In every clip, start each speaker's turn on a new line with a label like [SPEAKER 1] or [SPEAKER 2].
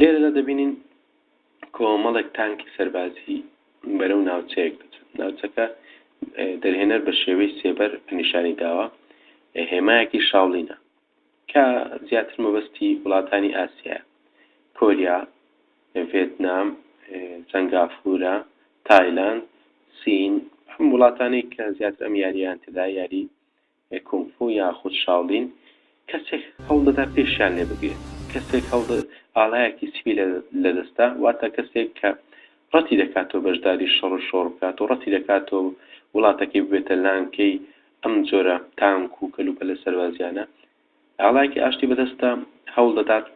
[SPEAKER 1] لێرەدا دەبینین کۆمەڵێک تانکی سەربازی بەرەو ناوچەیەک دەچن ناوچەکە دەرهێنەر بە شێوەی سێبەر نیشانی داوە هێمایەکی شاڵینە کە زیاتر مەبەستی وڵاتانی ئاسیایە، کۆریا، ڤێتنام، سەنگافورە، تایلاند، سین، ئەم وڵاتانەی کە زیاتر ئەم یاریەیان تێدایە، یاری کونگ فو یاخود شاولین، کەسێک هەوڵدەدا پێشیان لێ بگرێت، کەسێک هەوڵدە ئاڵایەکی سپی لە دەستە، واتە کەسێک کە ڕەتی دەکاتەوە بەشداری شەڕ و شۆڕ بکات و ڕەتی دەکاتەوە وڵاتەکەی ببێتە لانکەی ئەم جۆرە تانک و کەلوپەلە سەربازییانە ئاڵایەکی ئاشتی بەدەستە، هەوڵ دەدات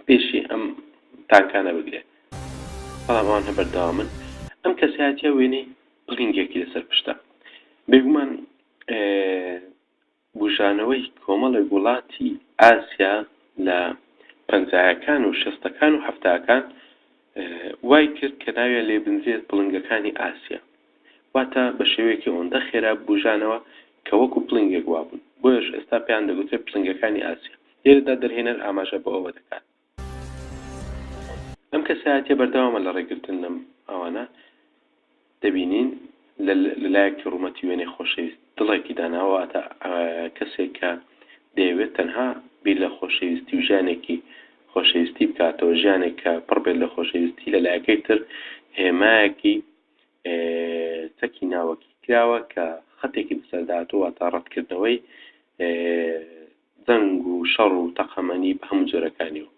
[SPEAKER 1] پێشی ئەم تانکانە بگرێت، بەڵام ئەوان هەر بەردەوامن. ئەم کەسایەتییە وێنەی پڵینگێکی لەسەر پشتە. بێگومان بوژانەوەی کۆمەڵێک وڵاتی ئاسیا لە پەنجایەکان و شەستەکان و حەفتاکان وای کرد کە ناویان لێ بنرێت پڵنگەکانی ئاسیا. واتە بە شێوەیەکی ئەوەندە خێرا بووژانەوە کە وەکو پڵنگێک وابوون، بۆیەش ئێستا پێیان دەگوترێت پڵنگەکانی ئاسیا. لێرەدا دەرهێنەر ئاماژە بۆ ئەوە دەکات، ئەم کەسایەتییە بەردەوامە لە ڕێگرتن لەم ئەوانە، دەبینین لە لەلایەکی ڕوومەتی وێنەی خۆشەویست دڵێکی داناوە، واتە کەسێک کە دەیەوێت تەنها بیر لە خۆشەویستی و ژیانێکی خۆشەویستی بکاتەوە، ژیانێک کە پڕ بێت لە خۆشەویستی، لە لایەکەی تر هێمایەکی چەکی ناوەکی کراوە کە خەتێکی بەسەرداهاتوو واتا ڕەتکردنەوەی دەنگ و شەڕ و تەقەمەنی بە هەموو جۆرەکانی و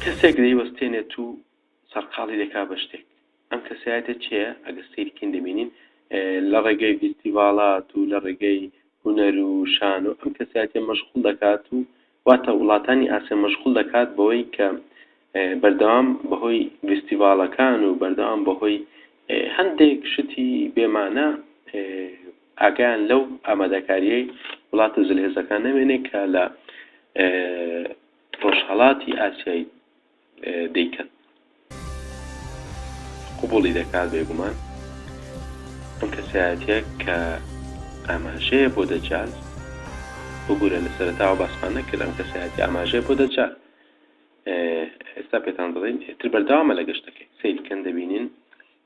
[SPEAKER 1] کەسێک دەیوەستێنێت و سەرقاڵی دەکا بە شتێک ئەم کەسایەتە چێە ئەگە سیرکین دەبینین لە ڕێگەی فیستیڤالات و لە ڕێگەی هوەر و شان و ئەم کەسایەتە مەشغول دەکات و واتە وڵاتانی ئاسیا مەشغوڵ دەکات بەوەی کە بەردەوام بەهۆی ڤیستیڤاڵەکان و بەردەوام بەهۆی هەندێک شتی بێ مانا ئاگایان لەو ئامادەکاریەی وڵاتە زلهێزەکان نەمێنێ کە لە ڕۆژهەڵاتی ئاسیایی دەیکەن قبوڵی دەکات بێگومان ئەم کەسایەتە کە ئاماژەیە بۆ دەجال ببوورە لە سەرتاوە باسمان نەکرد ئەم کەسایەتی ئاماژەیە بۆ دەجال ئێستا پێتان دەڵێن ئتر بەرداوامە لە گەشتەکەی سیرکەن دەبینین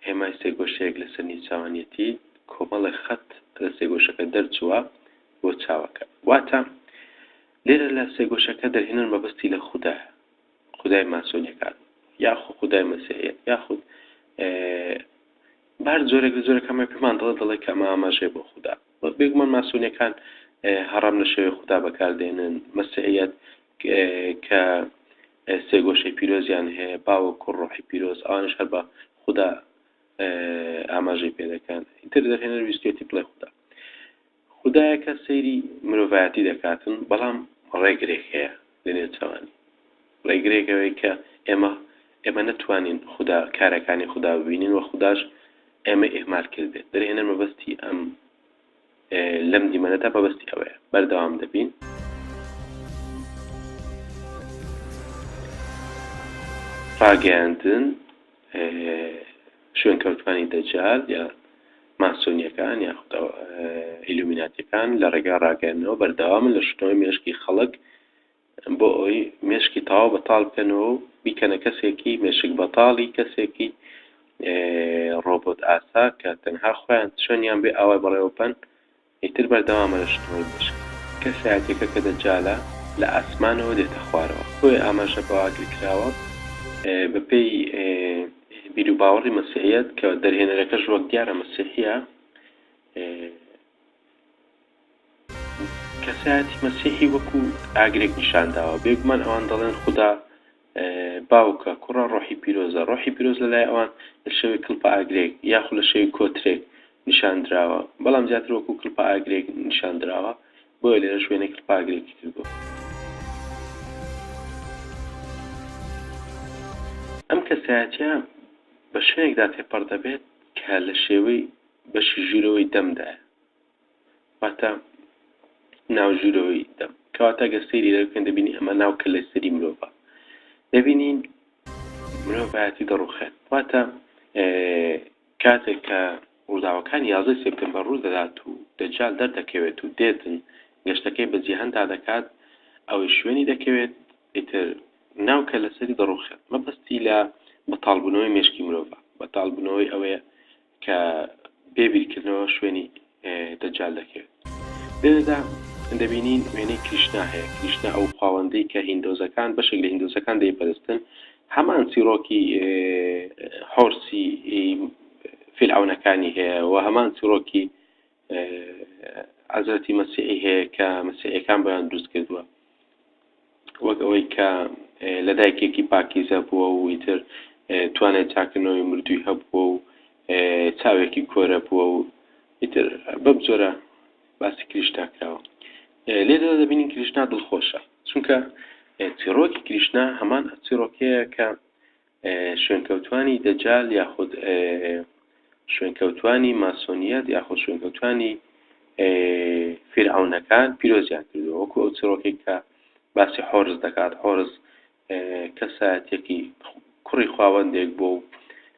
[SPEAKER 1] هێمای سێگۆشەیەک لەسەر نیچوانەتی کۆمەڵە خەت لە سێگۆشەکە دەرچووە بۆ چاوەکە واتە لێرە لە سێگۆشەکە دەرهێنەر مەبەستی لە خوددایە خودای ماسۆنیەکان یاخو خودای مەسیحیەت یاخود بار جۆرێک لە جۆرە کەمە پێمان دڵە دڵێک کە ئەمە ئاماژێ بۆ خوددا وەک بێگومان ماسۆنیەکان هەڕام لە شێوێ خوددا بەکاردێنن مەسیحیەت کە سێگۆشەی پیرۆزیان هەیە باوە کوڕ ڕۆحی پیرۆز ئەوانش هەر بە خوددا ئاماژەی پێ دەکەن ئیتر دەرهێنەر ویستێتی بڵێ خوددا خودایەکە سەیری مرۆڤایەتی دەکاتن بەڵام ڕێگرێک هەیە لە نێوچەوانی ڕێگرێک ئەوەی کە ئێمە ئێمە نەتوانین خودا کارەکانی خودا ببینین وە خوداش ئێمەی ئیهمال کردبێت دەرهێنەر مەبەستی ئەم لەم دیمەنەدا مەبەستی ئەوەیە بەردەوام دەبین. ڕاگەیاندن شوێنکەوتوانی دەجال یا ماسۆنییەکان یاخود ئیلومیناتییەکان لە ڕێگای ڕاگەیاندنەوە بەردەوامن لە شوتنەوەی مێشکی خەڵک بۆ ئەوەی مێشکی تەواو بەتاڵ بکەنەوە و بیکەنە کەسێکی مێشک بەتاڵی کەسێکی ڕۆبۆت ئاسا کە تەنها خۆیان چۆنیان بێ ئاوای بەڕێوە بەن ئیتر بەردەوامە لە شکڵی مێشک. کەسایەتیەکە کە دەجالە لە ئاسمانەوە دێتە خوارەوە. بۆیە ئاماژە بەوە ئاگرکراوە بە پێی بیروباوەڕی مەسیحیەت کە دەرهێنەرەکەش وەک دیارە مەسیحیە کەسایەتی مەسیحی وەکو ئاگرێک نیشانداوە بێگومان ئەوان دەڵێن خودا باوکە، کوڕە، ڕۆحی پیرۆزە، ڕۆحی پیرۆز لە لای ئەوان لە شێوەی کڵپە ئاگرێک یاخود لە شێوەی کۆترێک نیشان دراوە، بەڵام زیاتر وەکوو کڵپە ئاگرێک نیشان دراوە، بۆیە لێرەش وێنەی کڵپە ئاگرێکی کردووە. ئەم کەسایەتییە بە شوێنێکدا تێپەڕ دەبێت کە لە شێوەی بەشی ژوورەوەی دەمدایە. واتە ناو ژوورەوەی دەم کەواتە گەر سەیری لە بکەن دەبینی ئەمە ناو کە لە سەری مرۆڤە دەبینین مرۆڤایەتی دەڕوخێت واتە کاتێک کە ڕووداوەکان یازدە سپتمبر ڕوو دەدات و دەجال دەردەکەوێت و دێتن گەشتەکەی بە جیهاندا دەکات ئەوەی شوێنی دەکەوێت ئیتر ناو کە لەسەری دەڕوخێت مەبەستی لە بەتاڵبوونەوەی مێشکی مرۆڤە بەتاڵبوونەوەی ئەوەیە کە بێ بیرکردنەوە شوێنی دەجال دەکەوێت لێرەدا دەبینین وێنەی کریشنا هەیە کریشنا ئەو خواوەندەی کە هیندۆزەکان بەشێک لە هیندۆزەکان دەیپەرستن هەمان چیرۆکی حۆرسی فیلعونەکانی هەیە و هەمان چیرۆکی حەزرەتی مەسیحی هەیە کە مەسیحەکان بۆیان دروست کردووە وەک ئەوەی کە لە دایکێکی پاکیزە بووە و ئیتر توانای چاکنەوەی مردووی هەبووە و چاوێکی کۆرە بووە و ئیتر بەم جۆرە باسی کریشنا کراوە لێدا دەبینین کریشنا دڵخۆشە چونکە چیڕۆکی کریشنا هەمان چیڕۆکەیە کە شوێنکەوتوانی دەجال یاخود شوێنکەوتوانی ماسۆنیەت یاخود شوێنکەوتوانی فیرعونەکان پیرۆزیان کردو وەکو ئەو چڕۆکێک کە باسی حۆرز دەکات حۆرز کەسایەتێکی کوڕی خواوەندێک بۆ و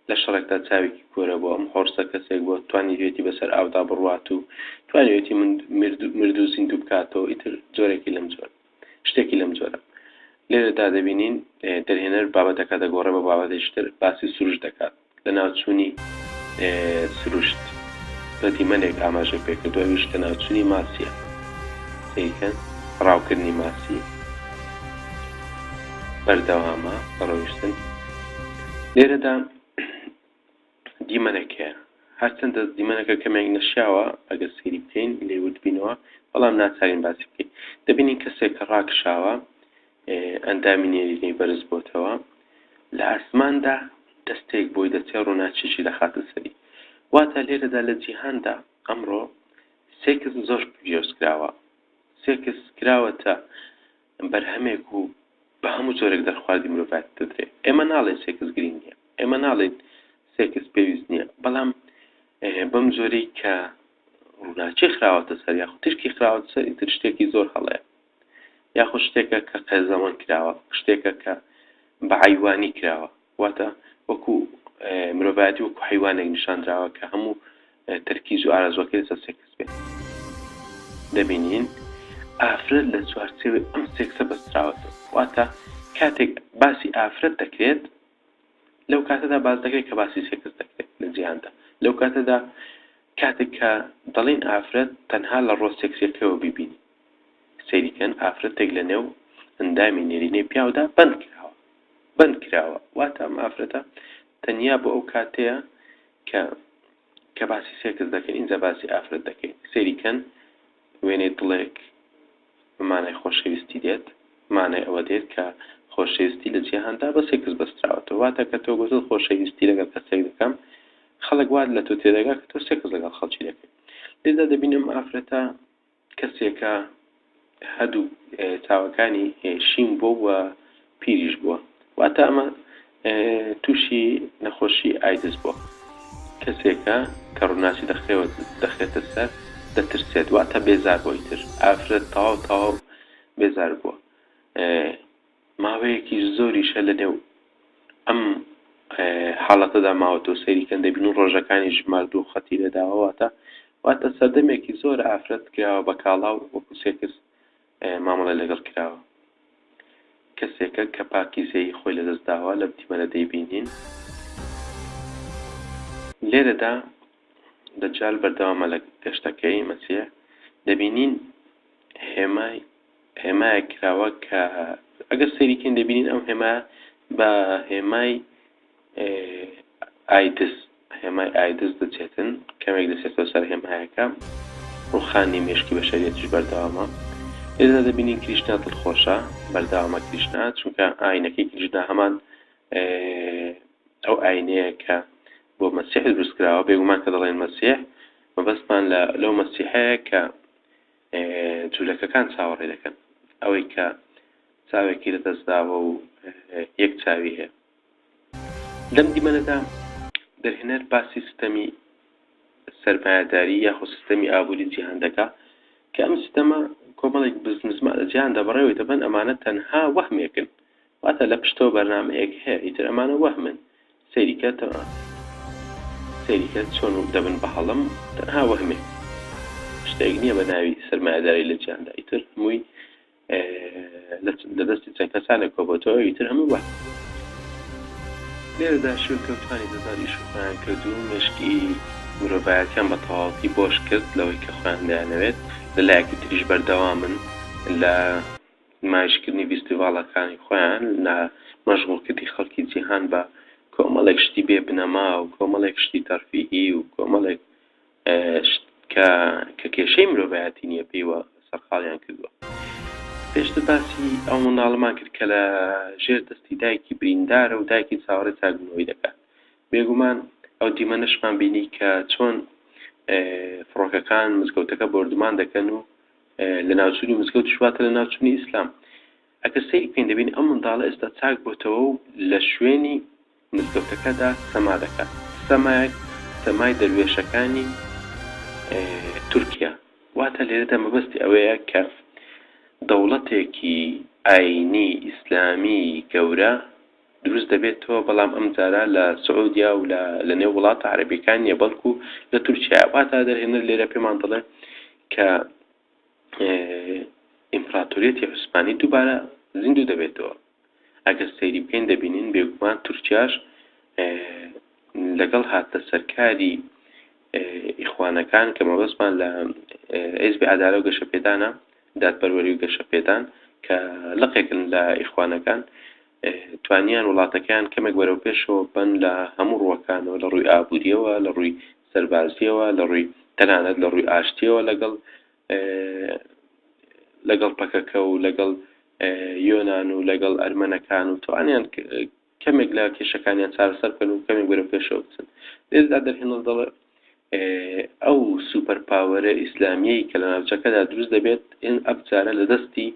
[SPEAKER 1] لە شەڕێکدا چاوێکی کۆرە بۆ ئەم حۆرسە کەسێک بۆ توانیوێتی بەسەر ئاودا بڕوات و توانیوێتی مردو زیندوو بکاتەوە ئیتر جۆرێکی لەم جۆر شتێکی لەم جۆرە. لێرەدا دەبینین دەرهێنەر بابەتەکە دەگۆڕێ بۆ بابەتێکی تر، باسی سروشت دەکات، لەناوچوونی سروشت بە دیمەنێک ئاماژەی پێ کردووە، ئەویش لەناوچوونی ماسییە. سەیری کەن، ڕاوکردنی ماسی بەردەوامە بە ڕۆیشتن. لێرەدا دیمەنە کەیە هەرچەندە دیمەنەکە کەمێک نەشیاوە ئەگەر سەیری بکەین لێی وردبینەوە بەڵام ناچارین باسی بکەین دەبینین کەسێک کە ڕاکشاوە ئەندامی نێرینەی بەرز بۆتەوە لە ئاسماندا دەستێک بۆی دەچێ ڕووناچیشی دەخاتە سەری واتە لێرەدا لە جیهاندا ئەمڕۆ سێکس زۆر پێشکراوە سێکس کراوەتە بەرهەمێک و بە هەموو جۆرێک دەرخواردی مرۆڤایەتی دەدرێ. ئێمە ناڵێین سێکس گرینگ نییە، ئێمە ناڵێین سێکس پێویست نییە، بەڵام بەم جۆرەی کە ڕووناکی خراوەتە سەر یاخود تیشکی خراوەتە سەر ئیتر شتێکی زۆر هەڵەیە یاخود شتێکە کە قێزەوەن کراوە، شتێکە کە بە عەیوانی کراوە. واتە وەکو مرۆڤایەتی وەکو حەیوانێک نیشاندراوە کە هەموو تەرکیز و ئارەزوەکەی لەسەر سێکس بێت دەبینین ئافرەت لە چوارچێوەی ئەم سێکسە بەستراوەتە واتە کاتێک باسی ئافرەت دەکرێت لەو کاتەدا باز دەکرێت کە باسی سێکس دەکرێت لە جیهاندا لەو کاتەدا کاتێک کە دەڵین ئافرەت تەنها لە ڕۆ سێکسیەکەەوە ببینی سەیری کەن ئافرەتێک لە نێو ئەندامی نێرینەی پیاودا بەند کراوە بەند کراوە واتە ئەم ئافرەتە تەنیا بۆ ئەو کاتەیە کە کە باسی سێکس دەکەین اینجا باسی ئافرەت دەکەین سەیری کەن وێنەی دڵێک مانای خۆشەویستی دێت مانای ئەوە دێت کە خۆشەویستی لە جیهاندا بە سێکس بەستراوەتەوە واتە کە تۆ گوتت خۆشەویستی لەگەڵ کەسێک دەکەم خەڵک وات لە تۆ تێدەگا کە تۆ سێکس لەگەڵ خەڵکی دەکەیت لێدا دەبینم ئافرەتە کەسێکە هەدوو چاوەکانی شین بووە و پیریش بووە واتە ئەمە تووشی نەخۆشی ئایدز بووە کەسێکە کە ڕووناچی دەخەوە دەخێتە سەر دەترسێت واتە بێزار بۆی تر ئافرەت تەواو تەواو بێزار بووە ماوەیەکیش زۆریشە لەنێو ئەم حاڵەتەدا ماوەتەوە سەیری کەن دەبین و ڕۆژەکانیش ماردوو خەتی لێداوە واتە واتە سەردەمێکی زۆر ئافرەت کراوە بە کاڵا و وەکو سێکس مامەڵی لەگەڵ کراوە کەسێکە کە پاکیزەیی خۆی لەدەست داوە لەم تیمەرە دەیبینین لێرەدا دەجال بەردەوامە لە گەشتەکەی مەسیح دەبینین هێمای هێمایەک کراوە کە ئەگەر سەیری کەین دەبینین ئەم هێما بە هێمای ئایدز هێمای ئایدز دەچێتن کەمێک دەچێتەوە سەر هێمایەکە ڕوخانی مشکی بە شەریەتش بەردەوامە ئێزا دەبینین کریشنا دڵخۆشە بەردەوامە کریشنا چونکە ئاینەکەی کریشنا هەمان ئەو ئاینەیە کە بۆ مەسیح دروستکراوە بێگومان کە دەڵێن مەسیح مەبەستمان لە لەو مەسیحەیە کە جولەکەکان چاوەڕێ دەکەن ئەوەی کە چاوێکی لە دەست داوە و یەک چاوی هەیە. لەم دیمەنەدا دەرهێنەر باسی ستەمی سەرمایەداری یاخود ستەمی ئابووری جیهان دەکا کە ئەم ستەمە کۆمەڵێک بزنزمانە جیهاندا بەڕێوەی دەبەن ئەمانە تەنها وەهمێکن واتە لە پشتەوە بەرنامەیەک هەیە ئیتر ئەمانە وەهمن سەیری کە تەنها سەیری کە چۆن وک دەبن بە هەڵم تەنها وەهمێک شتێک نییە بە ناوی سەرمایەداری لە جیاندا ئیتر هەمووی لە دەستی چەند کەسانێک کۆبەتەوە ئیتر هەموو وە لێرەدا شوێنکەوتانی دەزار ئیش و خۆیان کرد و مێشکی مرۆڤایەتیان بە تەواوەتی بۆش کرد لەوەی کە خۆیان دەیانەوێت لە لایەکی تریش بەردەوامن لە نمایشکردنی ڤیستیڤاڵەکانی خۆیان لە مەشغوڵکردنی خەڵکی جیهان بە کۆمەڵێک شتی بێ بنەما و کۆمەڵێک شتی تەرفیهی و کۆمەڵێک شت کە کە کێشەی مرۆڤایەتی نییە پێیوە سەرقاڵیان کردووە. پێشتر باسی ئەو منداڵەمان کرد کە لە ژێر دەستی دایکی بریندارە و دایکی چاوەڕێی چاکبوونەوەی دەکات. بێگومان ئەو دیمەنەشمان بینی کە چۆن فڕۆکەکان مزگەوتەکە بۆردومان دەکەن و لەناوچونی مزگەوتیش واتە لەناوچونی ئیسلام ئەگەر سەیری بکەین دەبین ئەم منداڵە ئێستا چاک بۆتەوە و لە شوێنی مزگەوتەکەدا سەما دەکات سەمایەک سەمای دەروێشەکانی تورکیا واتە لێرەدا مەبەستی ئەوەیە کە دەوڵەتێکی ئاینی ئیسلامی گەورە دروست دەبێتەوە، بەڵام ئەم جارە لە سعودیە و لە لە نێو وڵاتە عەرەبیەکان نیە بەڵکو لە تورکیایە، واتە دەرهێنەر لێرە پێمان دەڵێ کە ئیمپراتۆریەتی عوسمانی دووبارە زیندوو دەبێتەوە ئەگەر سەیری بکەین دەبینین بێگومان تورکیاش لەگەڵ هاتە سەرکاری ئیخوانەکان کە مەبەستمان لە ئێزبی عدالە و گەشەپێدانە دادپەروەری و گەشەپێدان کە لەقێکن لە ئیخوانەکان توانیان وڵاتەکەیان کەمێک بەرەو پێشەوە بەن لە هەموو ڕووەکانەوە لە ڕووی ئابووریەوە لە ڕووی سەربازیەوە لە ڕووی تەنانەت لە ڕووی ئاشتیەوە لەگەڵ لەگەڵ پەکەکە و لەگەڵ یۆناان و لەگەڵ ئەرمەنەکان و توانیان کەمێک لە کێشەکانیان چارەسەر بکەن و کەمێک بەرە پێشەوە بچن لێزدا دەرهێنڵ دەڵێ ئەو سوپەر پاوەرە ئیسلامیەی کە لە ناوچەکەدا دروست دەبێت ئەم جارە لە دەستی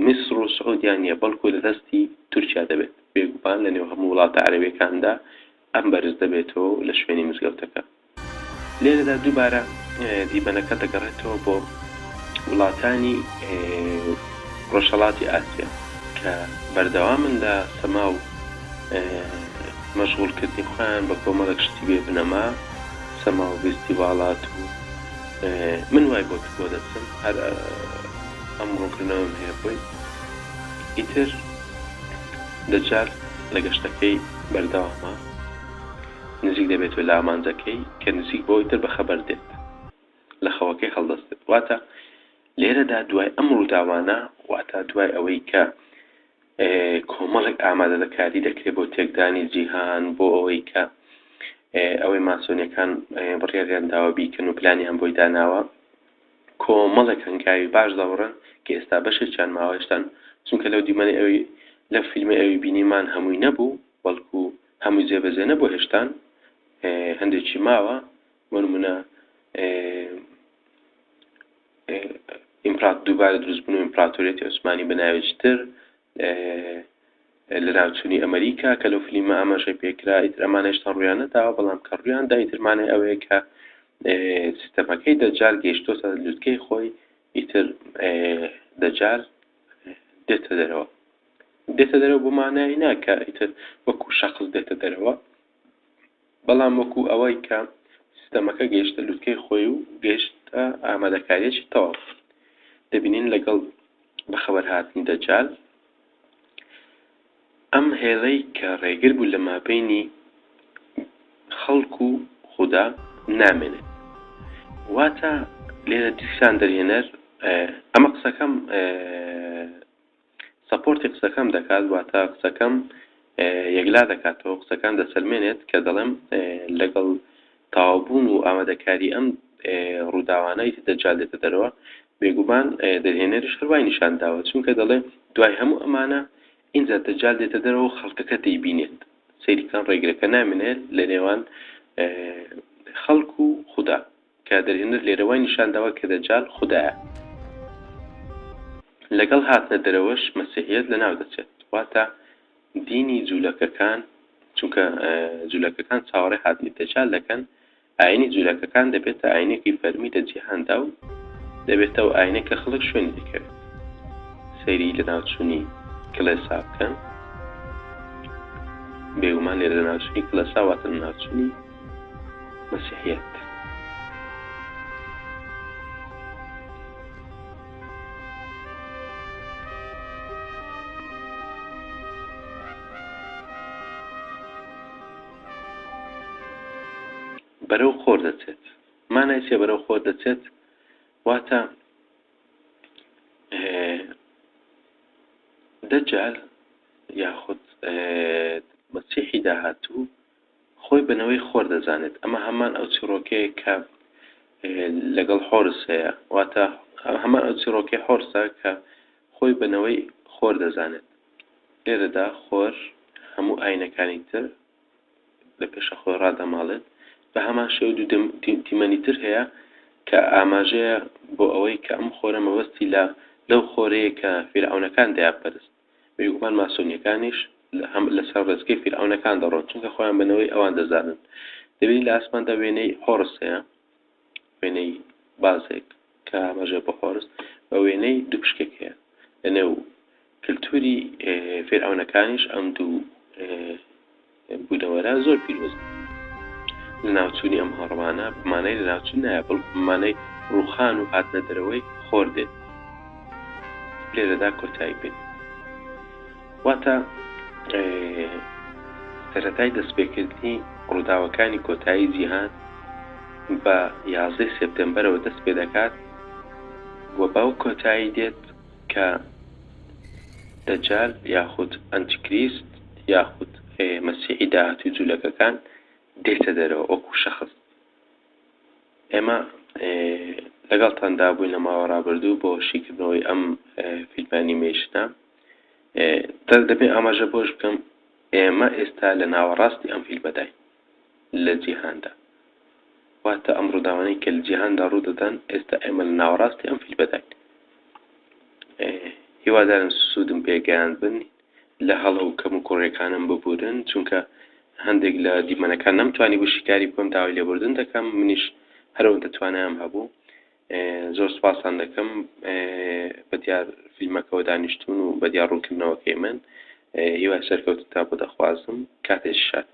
[SPEAKER 1] میسر و سعودیا نیە بەڵکو لە دەستی تورکیا دەبێت بێگومان لە نێو هەموو وڵاتە عەرەبەکاندا ئەم بەرز دەبێتەوە لە شوێنی مزگەوتەکە لێرەدا دووبارە دیمەنەکە دەگەڕێتەوە بۆ وڵاتانی ڕۆژهڵاتی ئاسیا کە بەردەوامن لە سەما و مەشغوڵکردنی خۆیان بە کۆمەڵێک شتی بێ بنەما سەما و ڤیستیڤاڵات و من وای بۆ تکۆ دەچم هەر ئەم ڕوونکردنەوەم هەیە بۆی ئیتر دەجال لە گەشتەکەی بەردەوامە نزیک دەبێتەوە لە ئامانجەکەی کە نزیک بۆ ئیتر بە خەبەر دێت لە خەوەکەی هەڵدەستێت واتە لێرەدا دوای ئەم ڕووداوانە واتە دوای ئەوەی کە کۆمەڵێک ئامادەدە کاری دەکرێت بۆ تێکدانی جیهان بۆ ئەوەی کە ئەوەی ماسۆنیەکان بڕیاریان داوە بیکەن و پلانیان بۆی داناوە کۆمەڵێک هەنگاوی باش دەوڕن کە ئێستا بەشێکیان ماوەشتان چونکە لەو دیمەنی ئەوی لە فیلمی ئەوی بینیمان هەمووی نەبوو بەڵکو هەموو جێبەجێ نەبوو هێشتان هەندێکی ماوە بۆ نمونە ئیمپرات دووبارە دروست بوون و ئیمپراتۆریەتی عوسمانی بە ناوێکی تر لە ناوچوونی ئەمریکا کە لەو فلیمە ئاماژەی پێکرا ئیتر ئەمانە هێشتا ڕویانە داوە بەڵام کە ڕویان دا ئیترمانەی ئەوەیە کە سیستەمەکەی دەجار گەیشتۆتە لوتکەی خۆی ئیتر دەجار دێتە دەرەوە دێتە دەرەوە بۆ مانایی ناکە ئیتر وەکو شخص دێتە دەرەوە بەڵام وەکو ئەوەی کە سیستەمەکە گەیشتە لوتکەی خۆی و گەیشتە ئامادەکاریەکی تەواو دەبینین لەگەڵ بەخەبەر هاتنی دەجال ئەم هێڵەی کە ڕێگر بوو لە مابینی خەڵک و خودا نامێنێت واتە لێرە دیسان دەرهێنەر ئەمە قسەکەم سەپۆرتی قسەکەم دەکات واتە قسەکەم یەکلا دەکاتەوە قسەکان دەسەلمێنێت کە دەڵێم لەگەڵ تاوابوون و ئامادەکاری ئەم ڕووداوانەی دەجال دێتە دەرەوە بێگومان دەرهێنەرش هەروای نیشان داوە چونکە دەڵێ دوای هەموو ئەمانە ئینجا دەجال دێتە دەرەوە خەڵکەکە دەیبینێت سەیرکان ڕێگرەکە نامێنێت لە نێوان خەڵک و خوددا کە دەرهێنەر لێرە وای نیشان داوە کە دەجال خودایە. لەگەڵ هاتنە دەرەوەش مەسیحیەت لە ناو دەچێت، واتە دینی جولەکەکان، چونکە جولەکەکان چاوەڕێ هاتنی دەجال دەکەن، ئاینی جولەکەکان دەبێتە ئاینێکی فەرمی لە جیهاندا و دەبێتە ئەو ئاینە کە خەڵک شوێنی دەکەوێت. سەیری لەناوچوونی کڵێسا بکەن. بێگومان لێرە لەناوچوونی کڵێسا واتە لەناوچوونی. مەسیحیەت. بەرەو خۆر دەچێت مانای چێ بەرەو خۆر دەچێت واتە دەجال یاخود مەسیحی داهاتوو خۆی بە نەوەی خۆر دەزانێت، ئەمە هەمان ئەو چیڕۆکەیە کە لەگەڵ حۆرس هەیە، واتە هەمان ئەو چیڕۆکەی حۆرسە کە خۆی بە نەوەی خۆر دەزانێت. لێرەدا خۆر هەموو ئاینەکانی تر لە پێشە خۆی ڕادەماڵێت، بە هەمان شێوە دوو دیمەنی تر هەیە کە ئاماژەیە بۆ ئەوەی کە ئەم خۆرە مەبەستی لە لەو خۆرەیە کە فیرعەونەکان دەیانپەرست. بێگومان ماسۆنیەکانیش هەم لەسەر ڕێچکەی فیرعەونەکان دەڕۆن چونکە خۆیان بە نەوەی ئەوان دەزانن. دەبینین لە ئاسماندا وێنەی هۆرس هەیە، وێنەی بازێک کە ئاماژەیە بۆ هۆرس، بە وێنەی دوو پشکێک هەیە لە نێو کلتوری فیرعەونەکانیش ئەم دوو بونەوەرە زۆر پیرۆزە. لەناوچوونی ئەم هەڕەمانە بە مانای لەناوچوون نایە، بەڵکو بە مانای ڕووخان و هاتنە دەرەوەی خۆر دێت. لێرەدا کۆتایی پێ دێت. واتە سەرەتای دەستپێکردنی ڕووداوەکانی کۆتایی جیهان بە یازدەی سێپتێمبەرەوە دەست پێ دەکات و بەو کۆتایی دێت کە دەجال یاخود ئەنتیکریست یاخود مەسیحی داهاتووی جولەکەکان دێتە دەرەوە وەکو شەخس ئێمە لەگەڵتاندا بووین لە ماوە ڕابردوو بۆ شیکردنەوەی ئەم فیلمانی مێشتە دەبێ ئاماژە بۆش بکەم ئێمە ئێستا لە ناوەڕاستی ئەم فیلمەداین لە جیهاندا. واتە ئەم ڕووداوانەی کە لە جیهاندا ڕوو دەدەن ئێستا ئێمە لە ناوەڕاستی ئەم فیلمەداین. هیوادارم سوودم پێگەیان بن لە هەڵە و کەم و کوڕێکانم ببورن چونکە هەندێک لە دیمەنەکان نەمتوانی بوو شیکاری بکەم داوای لێبوردن دەکەم منیش هەرەوەندە توانایم هەبوو زۆر سوپاستان دەکەم بە دیار فیلمەکەوە دانیشتون و بە دیار ڕوونکردنەوەکەی من هیوای سەرکەوتنتان بۆ دەخوازم کاتێش شاد.